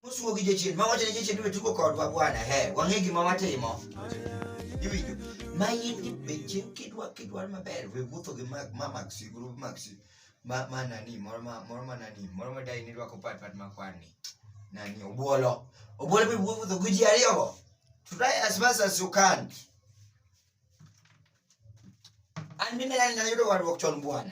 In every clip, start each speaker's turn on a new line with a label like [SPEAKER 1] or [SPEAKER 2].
[SPEAKER 1] Osuo gi jachien, ma wacho ne jachien ni wetugo kodwa bwana, he, wang'e gima watimo. Iwinjo? Ma in gi beche kidwa kidwa maber, we wuotho gi mag ma mag si group mag si. Ma ma nani, moro ma moro ma nani, moro ma dai ni rwako pat pat ma kwani. Nani obuolo. Obuolo be wuotho gi ji ariyo go. Try as much as you can. An mimi nani nayudo warruok chon bwana.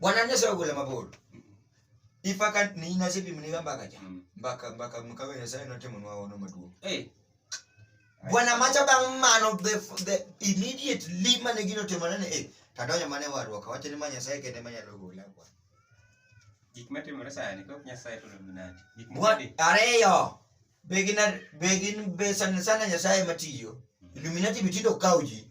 [SPEAKER 2] bwana
[SPEAKER 1] nyasaye ogole mabor ipaka ni nyasaye pimniga mbaka cha Mm. mbaka mbaka mkawe nyasaye notimonwa ono maduong' Eh, bwana macha bang' mano the, the immediately mane gino timore ni eh, tadonjo mane warruok awacho ni ma nyasaye kende manyalo gola bwana gik
[SPEAKER 2] matimore sani kok nyasaye to luminati gik Bwa- mokadi
[SPEAKER 1] ariyo be gin ar- be gin be sana sana nyasaye matiyo illuminati bitindo kawo ji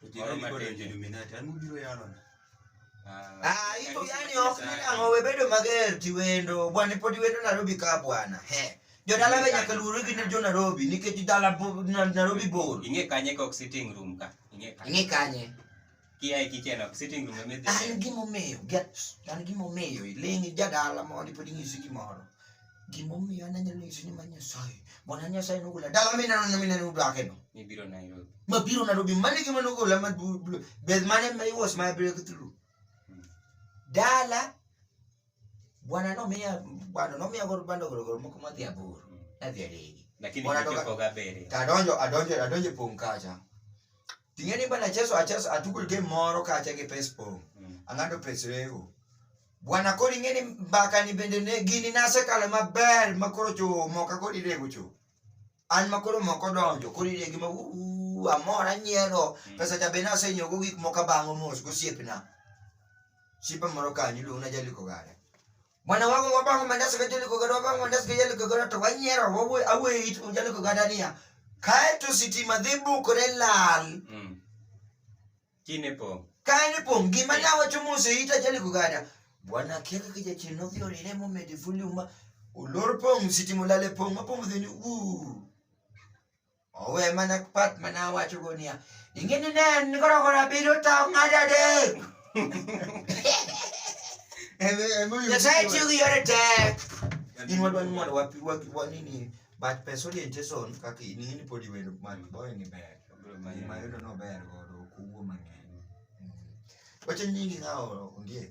[SPEAKER 2] To
[SPEAKER 3] jirani koro Moro
[SPEAKER 1] matin. Illuminati, an ubiro yalona. Ah, iko yani ok ni ang'o we bedo mager tiwendo bwana pod iwendo Nairobi ka bwana he jodala be nyaka luwre gi jo Nairobi nikech dala bo- na- Nairobi bor Ing'e kanye kok sitting
[SPEAKER 2] room ka. Ing'e kanye. ing'e kanye
[SPEAKER 1] Kia e kitchen
[SPEAKER 2] ok sitting room emidhi. an gimomiyo
[SPEAKER 1] get an gimomiyo iling' jadala mondi pod inyisi gimoro Gimomiyo an anyalo nyisi ni ma Nyasaye. Bwana Nyasaye nogola dala mi neno ni mineno udake no. Mibiro Nairobi.
[SPEAKER 2] Mabiro Nairobi mane
[SPEAKER 1] gima nogola ma bed mane ma was my breakthrough. Hmm. Dala Bwana nomiya bwana nomiya gor bando gor gor moko madhi aboro. Hmm. Nadhi adegi. Lakini nikakoga
[SPEAKER 2] bere. Tadonjo adonjo adonjo
[SPEAKER 1] pong kacha. Ting'e ni bana cheso acheso atukul game moro kacha gi pes pong. Mm. Ang'ado pes rego. Bwana koro ing'e ni mbaka ni bende ne gini nasekale maber ma koro cho moka koro irego cho. An ma koro moko donjo koro iregi ma uu amor anyiero. Mm. Pesa cha be nasenyogo gik moko abang'o mos gosiepna. Sipa moro kanyo iluongo na jaliko gare. Mwana wangu wabango mandaso kajoli kogoro wabango mandaso kajoli kogoro to wanyera wawe awe it unjali kogadania. Kae to sitima dhi bukore lal. Mm.
[SPEAKER 2] Kine po. Kae ne po gima
[SPEAKER 1] na wacho mose ita jali kogada. Bwana kika kija chino vyo rire mo medifuli uma. Ulor pong sitima lale pong mapong dhi ni uu. Owe mana pat mana wacho go niya, ing'e ni ne en koro koro abiro tawo ng'ado adek. Nyasaye tiyo gi yore tek. In wadwani mondo wapi waki wani ni but pesa orientation kaka in ni podi wendo man boy ni ber. Ma yudo no ber godo kuwo mang'eny. Wacho nyingi ng'awo ondiek.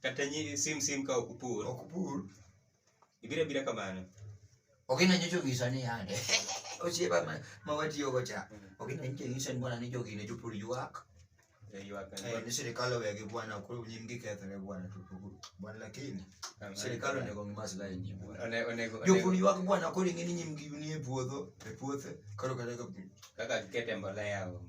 [SPEAKER 1] kata nyi sim
[SPEAKER 2] sim ka ok upur ok pur ibiro abira kamano ok ina nyicho
[SPEAKER 1] gisa ni yande osiepa ma, ma watiyo go cha ok ina nyicho gisa ni bwana ni jogi ne jopur ywak Ywak na eh, ni sirikal owegi bwana koro nyim gikethore bwana to pur- bwana lakini Amen. sirikal onego ng'i maslahi nyim bwana One- onego jopur onego- ywak bwana koro ing'e ni nyim gi nie puodho e puothe koro kata ka kaka gikete mbolea
[SPEAKER 2] onge.